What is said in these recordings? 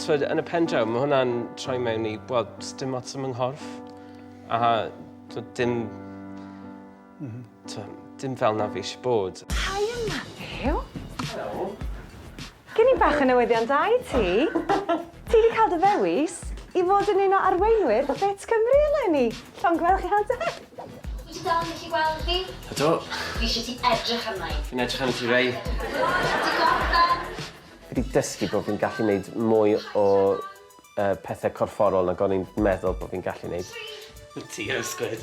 Twyd, yn y pen draw, mae hwnna'n troi mewn i, wel, dim ots am nghorff. A twyd, dim... Mm -hmm. twyd, dim fel na fi eisiau bod. Hi, Matthew. Helo. Gen i bach o newyddion da i ti. Ti 'di cael dy ddewis i fod yn un o arweinwyr Fit Cymru eleni! Llongyfarchiadau! Wyt ti dal yn gallu gweld fi? Ydw. Fi eisiau ti edrych arna i. Fi'n edrych arna ti Ray. Ti gorffen? Fi 'di dysgu bod fi'n gallu neud mwy o yy pethe corfforol nag o'n i'n meddwl bo' fi'n gallu neud. Tri. Wyt ti yn sgwid.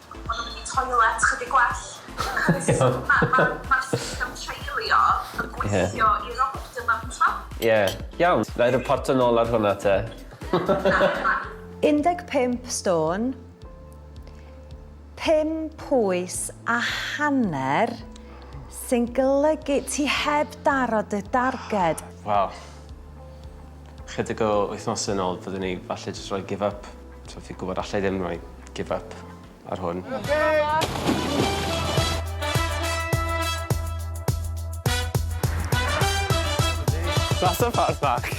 Maen nhw'n mynd i toilet chydig gwell. Cys ma' ma' ma' system treulio yn gweithio i'r optimum t'mo'? Ie, iawn. Na'i riporto nôl ar hwnna te. Na. 15 stôn, pum pwys a hanner, sy'n golygu ti heb daro dy darged. Wel, chydig o wythnosau nôl fyddwn i falle jyst rhoi give up. So fi gwybod allai ddim rhoi give up ar hwn. That's a fat back.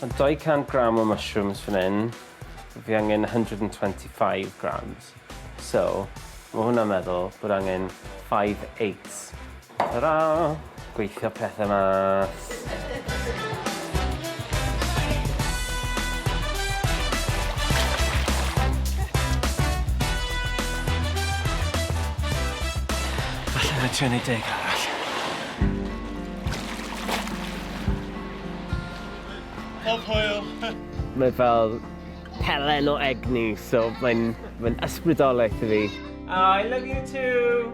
Mae 200 gram o mushrooms fan hyn. Fi angen 125 grams. So, mae hwnna'n meddwl bod angen 5 eighths Tara! Gweithio pethe mas. Falle na'i trio neud deg arall. Pob hwyl! Mae fel pelen o egni so mae'n mae'n ysbrydoleth i fi. Aw I love you too!